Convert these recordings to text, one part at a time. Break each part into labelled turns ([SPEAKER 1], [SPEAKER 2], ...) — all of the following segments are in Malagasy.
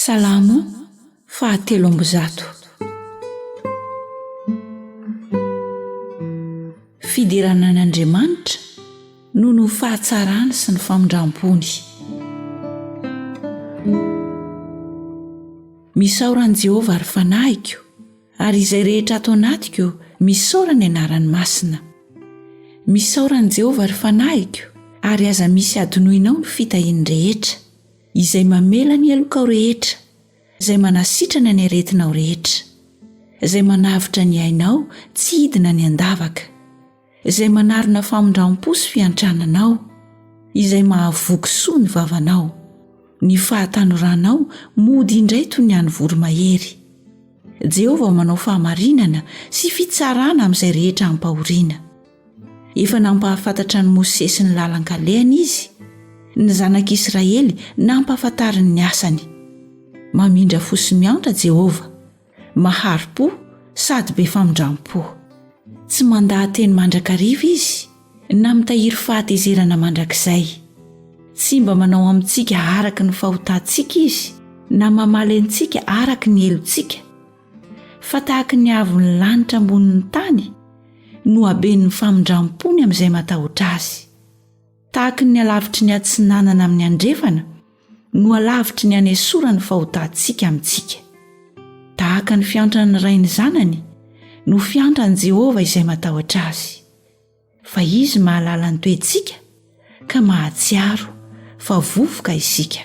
[SPEAKER 1] Salamo fahatelo amby zato. Fiderana an' Andriamanitra noho ny fahatsarany sy ny famindram-pony. Misaora an'i Jehovah ry fanahiko, ary izay rehetra ato anatiko, misaora ny anarany masina. Misaora an'i Jehovah ry fanahiko, ary aza misy hadinoinao ny fitahiany rehetra. Izay mamela ny helokao rehetra, Izay manasitrana ny aretinao rehetra, Izay manavotra ny ainao tsy hidina ny an-davaka, Izay manarona famindram-po sy fiantrananao, Izay mahavoky soa ny vavanao. Ny fahatanoranao mody indray toy ny an'ny voromahery. Jehovah manao fahamarinana sy fitsarana amin'izay rehetra ampahoriana. Efa nampahafantatra an'i Mosesy ny lalan-kalehany izy. Ny zanak'Israely nampahafantariny ny asany. Mamindra fo sy miantra Jehovah. Mahari-po sady be famindram-po. Tsy mandaha-teny mandrakariva izy, na mitahiry fahatezerana mandrakizay. Tsy mba manao amintsika araka ny fahotantsika izy, na mamaly antsika araka ny helotsika. fa tahaka ny avon'ny lanitra ambonin'ny tany no haben'ny famindram-pony amin'izay matahotra azy tahaka ny alavitry ny atsinanana amin'ny andrefana no alavitry ny anesora ny fahotantsika amintsika tahaka ny fiantran'ny rainy zanany no fiantran'i jehovah izay matahotra azy Fa Izy mahalala ny toetsika ka mahatsiaro fa vovoka isika.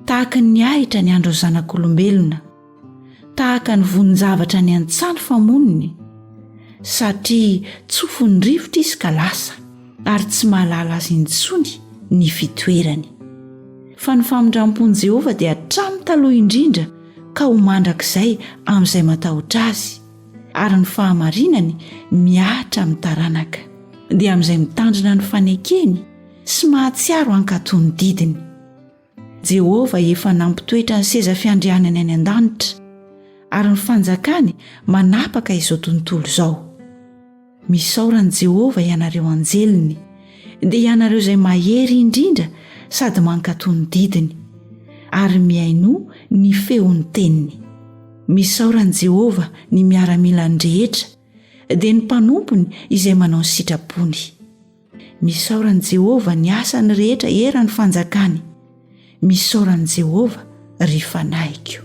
[SPEAKER 1] Tahaka ny ahitra ny andron'ny zanak'olombelona, tahaka ny vonin-javatra any an-tsano fa moniny, satria tsofin'ny rivotra izy ka lasa ary tsy mahalala azy intsony ny fitoerany. Fa ny famindram-pon'i Jehovah dia hatramin'ny taloha indrindra ka ho mandrakizay amin'izay matahotra azy. ary ny fahamarinany mihatra amin'ny taranaka, dia amin'izay mitandrina ny fanekeny sy mahatsiaro hankatò ny didiny. Jehovah efa nampitoetra ny seza fiandrianany any an-danitra, ary ny Fanjakany manapaka izao tontolo izao. Misaora an'i Jehovah ianareo anjeliny, dia ianareo izay mahery indrindra sady mankatò ny didiny, ary mihainoa ny feon'ny teniny. Misaora an'i Jehovah ny miaramilany rehetra, dia ny mpanompony izay manao ny sitrapony. Misaora an'i Jehovah ny asany rehetra eran'ny Fanjakany. Misaora an'i Jehovah, ry fanahiko.